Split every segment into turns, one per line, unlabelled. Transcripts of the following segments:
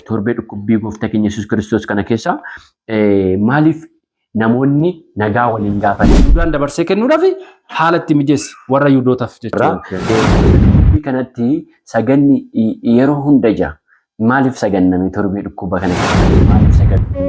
torbee dhukkubbii gooftaa keenya Yesuus Kiristoos kana keessa maaliif namoonni nagaa waliin gaafatan Yihudaan dabarsee kennuudhaaf
haala itti mijeesse warra Yihudootaaf jechuudha. Dhukkubbii
kanatti saganni yeroo hunda jira. Maaliif saganname torbee dhukkuba kana keessa maaliif saganne?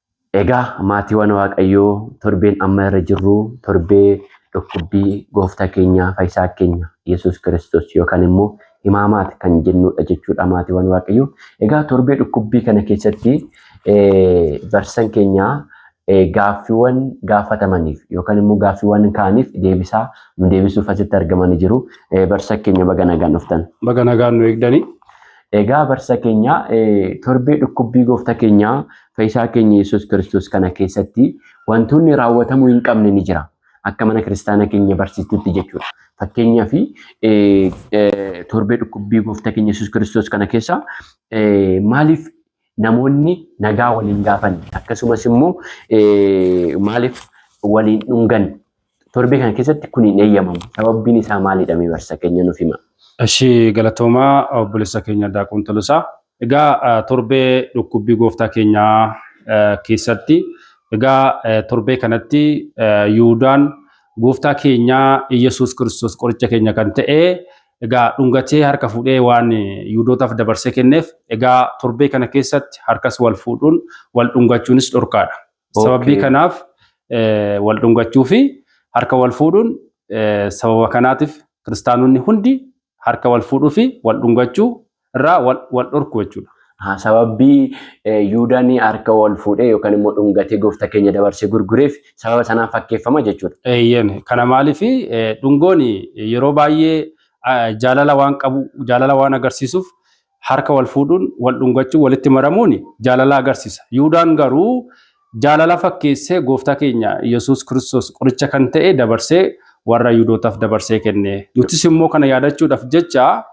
Egaa maatiiwwan Waaqayyoo torbeen amma irra jirru torbee dhukkubbii gooftaa keenya fayyisaa keenya Yesuus Kiristoos yookaan immoo himaamaat kan jennuudha jechuudha maatiiwwan Waaqayyoo. Egaa torbee dhukkubbii kana keessatti barsiisan keenya gaaffiiwwan gaafatamaniif yookaan immoo gaaffiiwwan kaaniif deebisaa nu deebisuuf asitti argamanii jiru. Barsiisa keenya baga nagaan dhuftan. Baga nagaan nu eegdanii.
Egaa barsiisa
keenya torbee dhukkubbii gooftaa keenya Fayyisaa keenya Yesuus Kiristoos kana keessatti wantoonni raawwatamuu hin qabne ni jira. Akka mana kiristaana keenya barsiistutti jechuudha. Fakkeenyaaf torbee dhukkubbii gooftaa keenya Yesuus Kiristoos kana keessa maaliif namoonni nagaa waliin gaafanne akkasumas immoo maaliif waliin dhungan Torbee kana keessatti kun hin eeyyamamu. Sababbiin isaa maalidha mee barsa keenya nuuf hima. Ishii
galatoomaa obboleessa keenya Daaqoon Tolosaa. Egaa torbee dhukkubbii gooftaa keenyaa keessatti egaa torbee kanatti Yihuudaan gooftaa keenyaa Iyyasuus Kiristoos qoricha keenya kan ta'e egaa dhungatee harka fuudhee waan Yihuudootaaf dabarsee kenneef egaa torbee kana keessatti harkas wal fuudhuun wal dhungachuunis dhorkaadha. Sababii kanaaf wal dhungachuu fi harka wal fuudhuun sababa kanaatiif kiristaanonni hundi harka wal fuudhuu fi wal dhungachuu irraa wal dhorku jechuudha. Sababbii
Yuudaan harka wal fuudhee yookaan immoo dhungatee gooftaa keenya dabarsee gurgureef sababa sanaan fakkeeffama jechuudha. Eeyyeen kana maaliif
dhungoon yeroo baay'ee jaalala waan qabu jaalala waan agarsiisuuf harka wal fuudhuun, wal dhungachuun, walitti maramuun jaalala agarsisa. Yihuudaan garuu jaalala fakkeessee Gooftaa keenya Yesuus Kiristoos qoricha kan ta'e dabarsee warra Yihuudootaf dabarsee kenne. Nutis immoo kana yaadachuudhaf jecha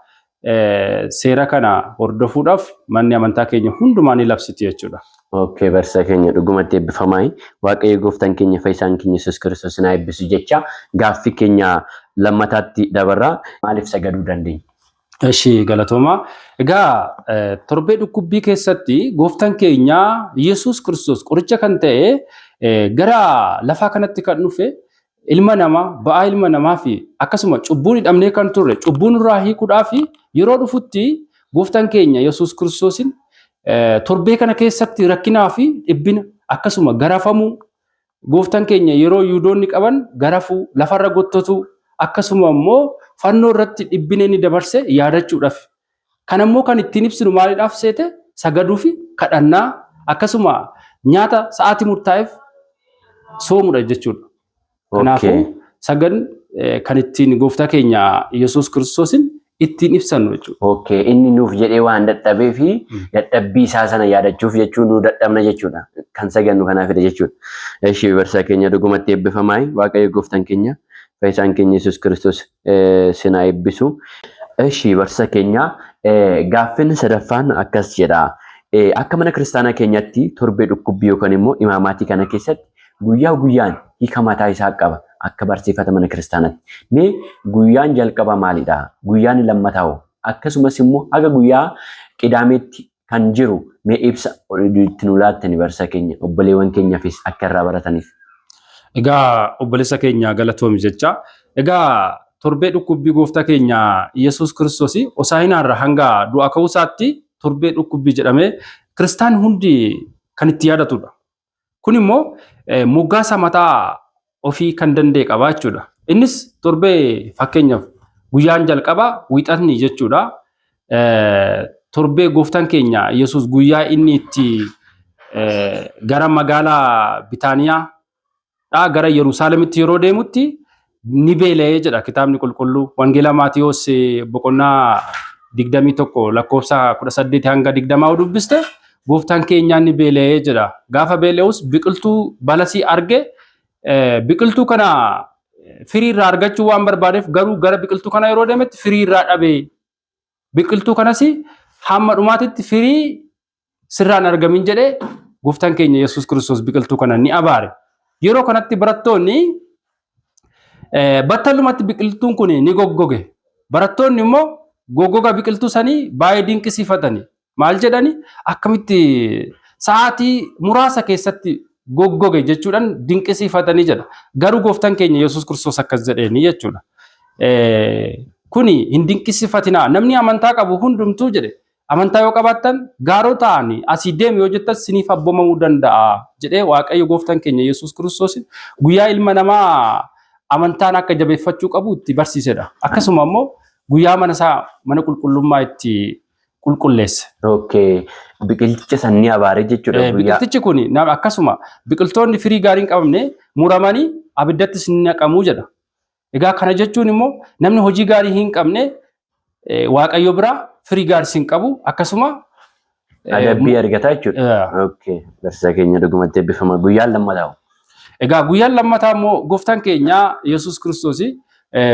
seera kana hordofuudhaf manni amantaa keenya hundumaa ni labsiti jechuudha. Okay barsiisaa
keenya dhugumatti eebbifamaayi. Waaqayyo gooftaan keenya fayyisaan keenya Yesuus Kiristoos isin haa eebbisu jechaa gaaffii keenya lammataatti dabarra. Maaliif sagaduu dandeenya? Ishii
galatooma. Egaa eh, torbee dhukkubbii keessatti gooftan keenya Yesuus Kiristoos qoricha kan ta'e eh, gara lafaa kanatti kan dhufe ilma namaa ba'aa ilma namaa fi akkasuma cubbuun hidhamnee kan turre cubbuun irraa hiikuudhaa fi yeroo dhufutti gooftan keenya Yesuus Kiristoosin eh, torbee kana keessatti rakkinaa fi dhibbina akkasuma garafamuu Gooftan keenya yeroo Yihudoonni qaban garafuu, lafarra gottotuu, akkasuma immoo fannoo irratti dhibbina inni dabarse yaadachuudhaaf. Kana immoo kan ittiin ibsinu maalidhaaf seete sagaduu fi kadhannaa akkasuma nyaata sa'aatii murtaa'eef soomudha jechuudha. Kanaafuu Okay. sagan eh, kan ittiin gooftaa keenya Yesuus Kiristoosin ittiin ibsannu jechuudha. Okay. Inni nuuf
jedhee waan dadhabee fi Mm. dadhabbii isaa sana yaadachuuf jechuun nu dadhabna jechuudha. Kan sagannu kanaafidha jechuudha. Eshi barsiisaa keenya dhugumatti eebbifamaa waaqayyo gooftaan keenya fayyisaan keenya Yesuus Kiristoos eh, sin haa eebbisu. Eshi barsiisaa keenya eh, gaaffiin sadaffaan akkas jedha. Eh, Akka mana kiristaanaa keenyatti torbee dhukkubbii yookaan immoo imaamaatii kana keessatti Guyyaa guyyaan hiika mataa isaa qaba akka barsiifata mana kiristaanatti. Mee guyyaan jalqabaa maalidha? Guyyaan lammataa hoo? Akkasumas immoo haga guyyaa qidaameetti kan jiru mee ibsa itti nu laattani barsiisaa keenya obboleewwan keenyafis akka irraa barataniif. Egaa
obboleessa keenya galatoomi jecha. Egaa torbee dhukkubbii gooftaa keenya Yesuus Kiristoos Hosaa'inaarra hanga du'a ka'uu isaatti torbee dhukkubbii jedhamee kiristaanni hundi kan itti yaadatudha. Kun immoo moggaasa mataa ofii kan danda'e qaba jechuudha. Innis torbee fakkeenyaaf guyyaan jalqabaa wiixatni jechuudha. Torbee gooftaan keenya Yesuus guyyaa inni itti gara magaalaa Bitaaniyaa dhaa gara Yerusaalemitti yeroo deemutti ni beela'ee jedha kitaabni qulqulluu. Wangeela Maatiyoos eh, boqonnaa 21 lakkoofsa 18 hanga 20 yoo dubbiste gooftaan keenyaa ni beela'ee jedha. Gaafa beela'us biqiltuu balasii arge eh, biqiltuu kana eh, firii irraa argachuu waan barbaadeef garuu gara biqiltuu kana yeroo deemetti firii irraa dhabe. Biqiltuu kanas hamma dhumaatitti firii sirraan argamin jedhee gooftaan keenya Yesuus Kiristoos biqiltuu kana ni abaare. Yeroo kanatti barattoonni battalumatti biqiltuun kun ni goggoge. Barattoonni immoo goggoga biqiltuu sanii baay'ee dinqisiifatani. Maal jedhani akkamitti sa'aatii muraasa keessatti goggoge jechuudhaan dinqisiifatanii jedha. Garuu gooftaan keenya Yesuus Kiristoos akkas jedheeni jechuudha. Kuni hin dinqisiifatinaa namni amantaa qabu hundumtuu jedhe Amantaa yoo qabaattan gaaroo ta'ani asii deemi yoo jettan siniif abbomamuu danda'a jedhee Waaqayyo gooftan keenya Yesuus Kiristoos guyyaa ilma namaa amantaan akka jabeeffachuu qabu itti barsiisedha. Akkasuma immoo guyyaa mana isaa mana qulqullummaa itti qulqulleesse. Okay.
Biqilticha san ni abaare jechuudha guyyaa. Biqiltichi kun
akkasuma biqiltoonni firii gaarii hin qabne muramanii abiddattis ni naqamu jedha. Egaa kana jechuun immoo namni hojii gaarii hin qabne waaqayyo biraa firii gaariis hin qabu akkasuma adabbii
argataa jechuudha. Barsiisaa keenya dhugumatti eebbifama guyyaan lammataa. Egaa guyyaan
lammataa immoo gooftaan keenya Yesuus Kiristoos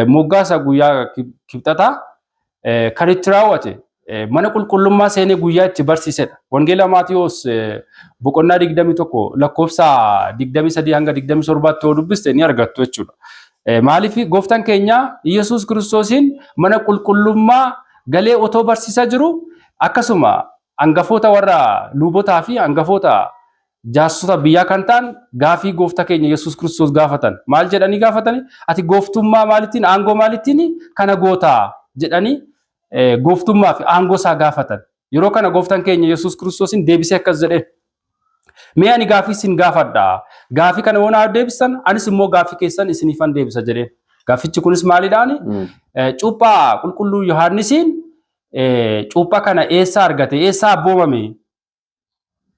moggaasa guyyaa kibxataa Kan itti raawwate mana qulqullummaa seenee guyyaa itti barsiisedha. Wangeela Maatiyoos boqonnaa 21 lakkoofsa 23 hanga 27tti yoo dubbiste ni argattu jechuudha. Maaliif gooftaan keenya Iyyasuus Kiristoosiin mana qulqullummaa galee otoo barsiisaa jiru akkasuma hangafoota warra luubotaa fi hangafoota Jaarsota biyyaa kan ta'an gaafii gooftaa keenya Yesuus Kiristoos gaafatan. Maal jedhanii gaafatani? Ati gooftummaa maalittiin, aangoo maalittiin kana gootaa? jedhanii gooftummaa fi aangoo isaa gaafatan. Yeroo kana gooftaan keenya Yesuus Kiristoosiin deebisee akkas jedheen. Mee ani gaafii isin gaafadha. Gaafii kana yoo naa deebistan anis immoo gaafii keessan isiniifan deebisa jedheen. Gaafichi kunis maalidhaani? Cuuphaa qulqulluu Yohaannisiin cuuphaa kana eessaa argate? Eessaa abboomame?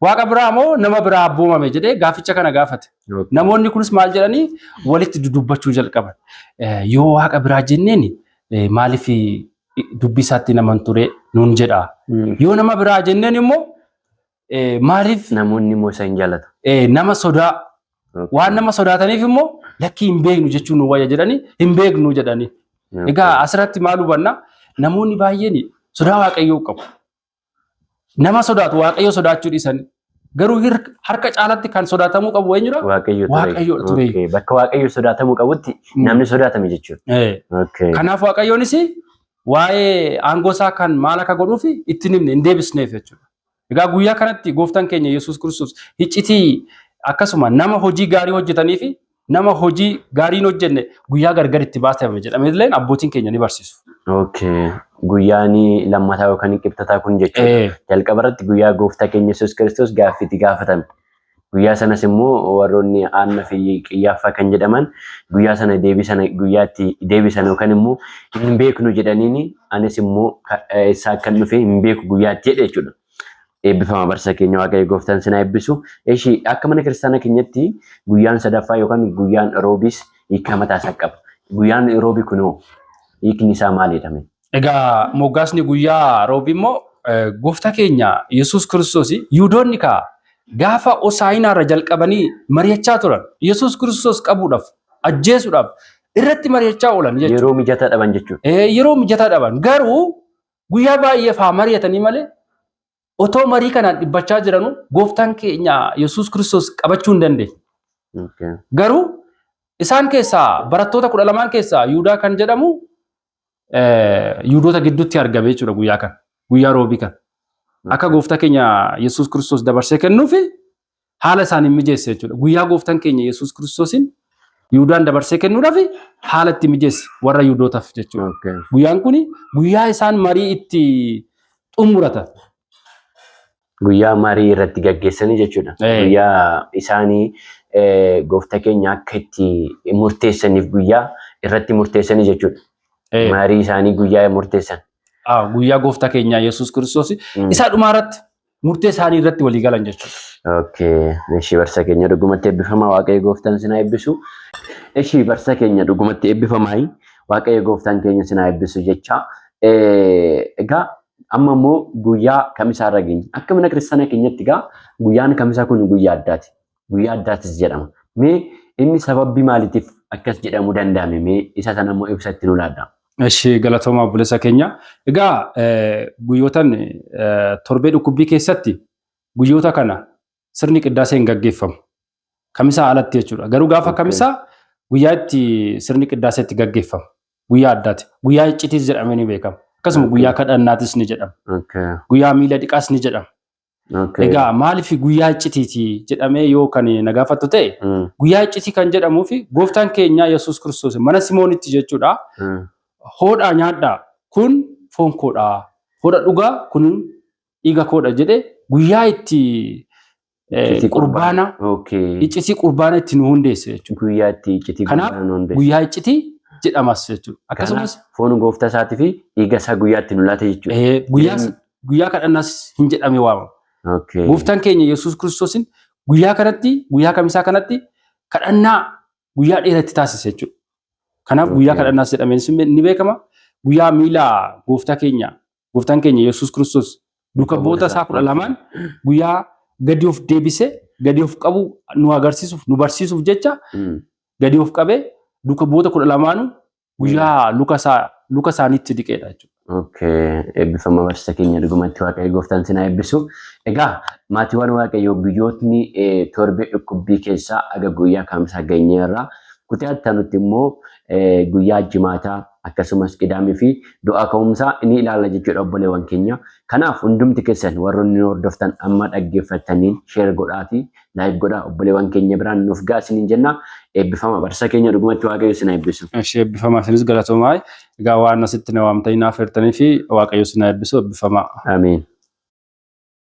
Waaqa biraa moo nama biraa abboomame jedhee gaaficha kana gaafate. Namoonni kunis maal jedhanii walitti dudubbachuu jalqaban. Yoo waaqa biraa jenneen maaliif dubbii isaatti naman ture nuun jedha. Yoo nama biraa jenneen immoo maaliif Namoonni immoo isa
hin jaalatu. nama sodaa
waan nama sodaataniif immoo lakkii hin beeknu jechuun nu wayya jedhanii hin beeknu jedhanii. Egaa asirratti maal hubanna namoonni baay'een sodaa waaqayyoo qabu. nama sodaatu waaqayyo sodaachuu dhiisan garuu hir- harka caalatti kan sodaatamuu qabu eenyudha? Waaqayyo ture. Waaqayyo ture. Okay.
Bakka waaqayyo sodaatamuu qabutti Mm. namni sodaatame jechuudha. Eh, Okay. Kanaaf waaqayyoonis
waa'ee aangoo isaa kan maal akka godhuuf itti hin himne hin deebisneef jechuudha. Egaa guyyaa kanatti gooftaan keenya Yesuus Kiristoos hiccitii akkasuma nama hojii gaarii hojjetanii fi nama hojii gaariin hojjenne guyyaa gargar itti baatame jedhamee illee abbootiin keenya ni barsiisu. Okay.
Guyyaan lammataa yookaan qibxataa kun jechuudha. Eh, Jalqaba irratti guyyaa gooftaa keenya Yesuus Kiristoos gaaffii itti gaafatame. Guyyaa sanas immoo warroonni aanna fi qiyyaaffaa kan jedhaman guyyaa sana deebii sana guyyaatti deebisan yookaan immoo hin beeknu jedhaniin anis immoo ka- eh, isaa akkan dhufe hin beeku guyyaatti jedhe jechuudha. Eebbifama barsa keenya waaqayyo gooftaan sinaa eebbisu. Eshi akka mana kiristaana keenyatti guyyaan sadaffaa yookaan guyyaan roobiis hiikaa mataa isaa qaba. Guyyaan roobi kunoo hiikni isaa maalidha? Egaa
moggaasni guyyaa roobi immoo gooftaa keenya Yesuus Kiristoos Yihudoonni kaa gaafa Hosaa'inaa irra jalqabanii mari'achaa turan. Yesuus Kiristoos qabuudhaaf, ajjeesuudhaaf irratti mari'achaa oolan jechuudha. Yeroo mijataa dhaban jechuudha.
Yeroo mijataa dhaban
garuu Guyyaa baay'eef haa mari'atanii malee otoo marii kanaan dhibbachaa jiranuu gooftaan keenya Yesuus Kiristoos qabachuu hin dandeenye. Okay. Garuu isaan keessaa barattoota kudha lamaan keessaa Yihudaa kan jedhamu eh, Yihudoota gidduutti argame jechuudha guyyaa kana. Guyyaa roobii kana. Akka gooftaa keenya Yesuus Kiristoos dabarsee kennuuf haala isaaniin mijeesse jechuudha. Guyyaa gooftan keenya Yesuus Kiristoosiin Yihuudaan dabarsee kennuudhaaf haala itti mijeesse warra Yihuudootaaf jechuudha. Okay. Guyyaan kun guyyaa isaan marii itti xumuratan.
Guyyaa marii irratti gaggeessanii jechuudha. Ee. Guyyaa isaanii eh, goofta keenya akka itti murteessaniif guyyaa irratti murteessanii jechuudha. Ee, Marii
isaanii guyyaa murteessan. ah,
Guyyaa
gooftaa keenyaa Yesuus Kiristoos Mm. isaa dhumaa
irratti
murtee isaanii irratti walii galan jechuudha. Okay. Ishii
barsa keenya dhugumatti eebbifamaa waaqayyo gooftaan sinaa eebbisu. Ishii barsa keenya dhugumatti eebbifamaa waaqayyo gooftaan keenya sinaa eebbisu jecha. Egaa amma immoo guyyaa kamisaa irra geenye. Akka mana kiristaanaa keenyatti egaa guyyaan kamisaa kun guyyaa addaati. guyyaa addaattis jedhama. Mee inni sababbi maaliitiif akkas jedhamuu danda'ame mee isa sana immoo ibsa itti nu laadha. Ishee galatoomaa
obboleessa keenya. Egaa guyyootan torbee dhukkubbii keessatti guyyoota kana sirni qiddaasee hin gaggeeffamu. Kamisaa alatti jechuudha. Garuu gaafa kamisaa guyyaa itti sirni qiddaasee itti gaggeeffamu. Guyyaa addaati. Guyyaa iccitiis jedhamee ni beekama. Akkasuma guyyaa kadhannaatis ni jedhama. Guyyaa miila dhiqaas ni jedhama. Okay. Egaa maaliif guyyaa iccitiiti jedhamee yoo kan na gaafattu ta'e Mm, guyyaa iccitii kan jedhamuu fi gooftaan keenya Yesuus Kiristoos mana Simoonitti jechuudha mm, hoodhaa nyaadhaa kun foon koodhaa hoodha dhugaa kun dhiiga koodha jedhe guyyaa itti eh, Iccitii qurbaana Okay. iccitii qurbaana itti nu hundeesse jechuudha. Guyyaa itti iccitii Kanaaf
guyyaa nuun beeku. Guyyaa
iccitii jedhamas jechuudha. Akkasumas Foon gooftaa isaatii
fi dhiiga isaa guyyaa itti nu laate jechuudha. eh, guyyaa Jireenya- guyyaa kadhannaas
hin jedhamee waamama. Okay. Gooftaan keenya Yesuus Kiristoosin guyyaa kanatti guyyaa kamisaa kanatti kadhannaa guyyaa dheeratti taasise jechuudha. Kanaaf guyyaa Okay. kadhannaas jedhamee sin- ni beekama. Guyyaa miila gooftaa keenya gooftaan keenya Yesuus Kiristoos duuka bu'oota isaa kudha lamaan guyyaa gadi of deebisee gadi of qabu nu agarsiisuuf nu barsiisuuf jecha Mm. gadi of qabee duuka bu'oota kudha lamaanuu guyyaa luka isaa luka isaaniitti dhiqeedha jechuudha. Okay. Eebbifama
barsiisa keenya dhugumatti waaqayyo gooftaan sinaa eebbisu. Egaa maatiiwwan waaqayyoo guyyootni eh, torbee dhukkubbii keessaa aga guyyaa kaamsaa geenyeerra. Kutaa ittanutti immoo eh, guyyaa jimaataa akkasumas qidaamii fi du'aa ka'umsaa ni ilaalla jechuudha obboleewwan keenya. Kanaaf hundumti keessan warroonni nu hordoftan amma dhaggeeffattaniin sheer godhaatii Like godhaa obboleewwan keenya biraan nuuf ga'a isiniin jenna. Eebbifama barsiisa keenya dhugumatti waaqayyo isin haa eebbisu. Ishee eebbifamaa isinis
galatoomaa. Egaa waan asitti na waamtanii naaf hirtanii fi waaqayyo isin haa eebbisu eebbifamaa. Ameen.